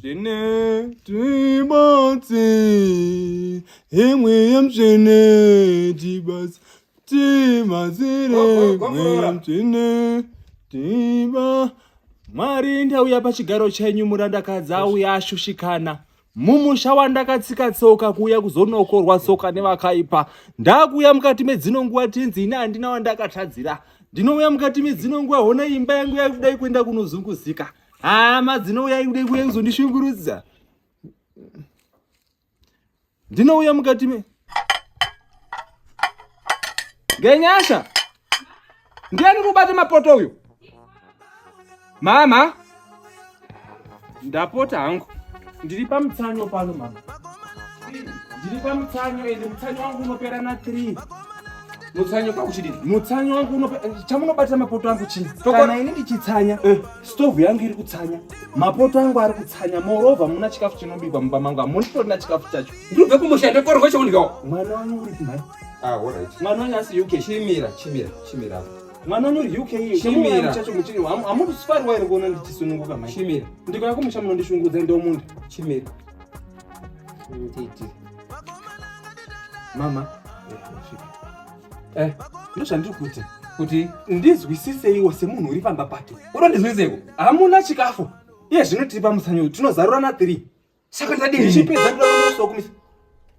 Zvine tibatsi imwe yemsvene tibatsi tibatsire imwe yemsvene tiba mwari ndauya pachigaro chenyu murandakadzi auya ashushikana mumusha wandakatsika tsoka kuuya kuzonokorwa tsoka nevakaipa ndakuuya mukati medzino nguva tinzi ini handina wandakatadzira ndinouya mukati medzino nguva hona imba yangu yakudai kuenda kunozunguzika hama dzinouya ikude kuuya kuzondishungurudza ndinouya mukati me ngenyasha ndiani kubate mapoto uyo mama ndapota hangu ndiri pamutsanyo pano mama ndiri pamutsanyo ende mutsanyo wangu unopera na three Mutsanyo pa kuchidini? Mutsanyo wangu unopa eh, chamunobatira mapoto angu chii? Kana ini ndichitsanya, eh. stove yangu iri kutsanya. Mapoto angu ari kutsanya. Moreover muna chikafu chinobikwa mumba mangu. Amuni kutorina chikafu chacho. Ndibve kumusha ndokorwa chokundyawo. Mwana wangu uri kumhai. Ah, all right. Mwana wangu asi UK. Chimira, chimira, chimira. Mwana wangu uri UK. Chimira. Chacho muchini. Amuri sifari wairi kuona ndichisununguka mhai. Chimira. Ndikauya kumusha munondishungudza ndomunda. Chimira. mama eh, ndozvandiri kuti kuti ndizwisiseiwo semunhu uri pamba pake uno ndizwiseiwo hamuna chikafu iye zvino tiri pamusanyo tinozarurana tiri saka ndadii chipedza kuda kunosokumisa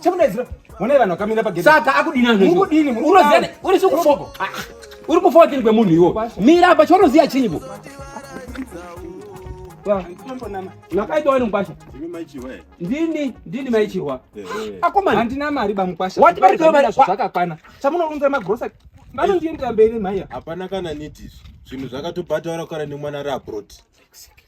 Chemudaidzira. Mune vanhu vakamira pagedhi. Saka akudini anhu. Muri kudini? Muri kuziya. Uri sikufoko. Ah, uri kufoko chini kwemunhu iwo. Mira apa choroziya chinyi bo. Nakaita wani mkwasha? Ndini, ndini maichihwa. Eh, eh. Akomana. Handina mari ba mkwasha. Wati bari kwa mari zvakakwana. Chamunounza magrosa. Bano ndiye ndambere maiya. Hapana kana niti. Zvinhu zvakatobhadhara kare nemwana ra abroad. Sick, sick.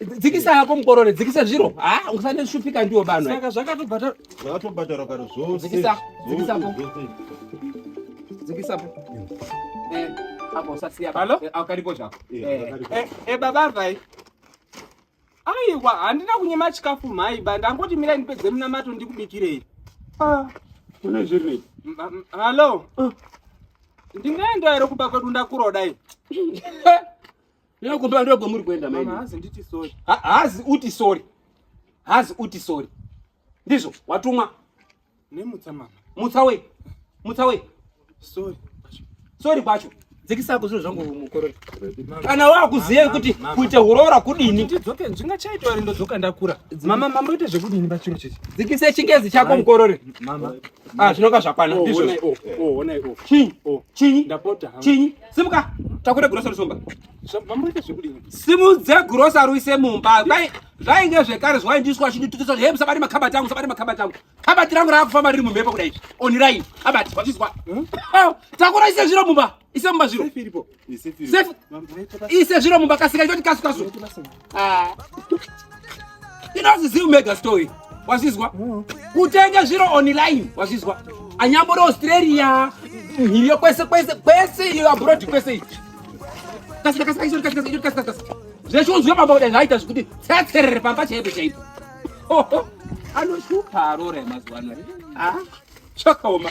dzikisa yako mukorore dzikisa zviro ha usane shupika ndiwo vanhu saka zvakatobhata zvakatobhatara kare zvose dzikisa dzikisa po dzikisa po eh apo sasiya halo eh, akaripo zvako eh, eh eh baba vai aiwa handina kunyima chikafu mhai ba ndangoti mira ndipedze munamato ndikubikirei ah une zviri halo ah. ndingaenda here kumba kwedu ndakurodai Ino kumba ndogo muri kuenda maini. Mama hazi nditi sorry. Ha, hazi uti sorry. Hazi uti sorry. Ndizvo watumwa. Nemutsa mama. Mutsa we. Mutsa we. Sorry. Sorry kwacho. Dzikisa ku zvinhu zvangu mukorori. Kana wakuziva kuti kuita hurora kudini? Ndidzoke ndinga chaita wari ndodzoka ndakura. Mama mama ite zvekudini pa chiro chichi. Dzikisa chingezi chako mukorori. Mama. Ah zvinoka zvakwana. Oh, Ndizvo. Oh, oh, oh, oh. Chinyi? Oh. Chinyi? Ndapota. Chinyi? Simuka. Takure grocery somba. Mamurike zvekudini? Simudze grocery uise mumba. Dai zvainge zvekare zvaindiswa chinditutisa hey musabati makabati angu musabati makabati angu. Kabati rangu rakufamba riri mumhepo kudai. Online. Kabati wazvizwa. Hmm? Oh, takura ise zviro mumba. Ise mumba zviro. Safe iripo. Ise zviro mumba kasika ichoti kasu kasu. ah. inozisiu mega story wazvizwa mm. kutenga zviro online wazvizwa anyambori australia mhiriyo kwese kwese kwese iyo abroad kwese ichi zvechunzwa pamba kudai zvaita zvekuti tsetserere pamba chaipo chaipo anoshupa arora yemazuva ano ah, chakaoma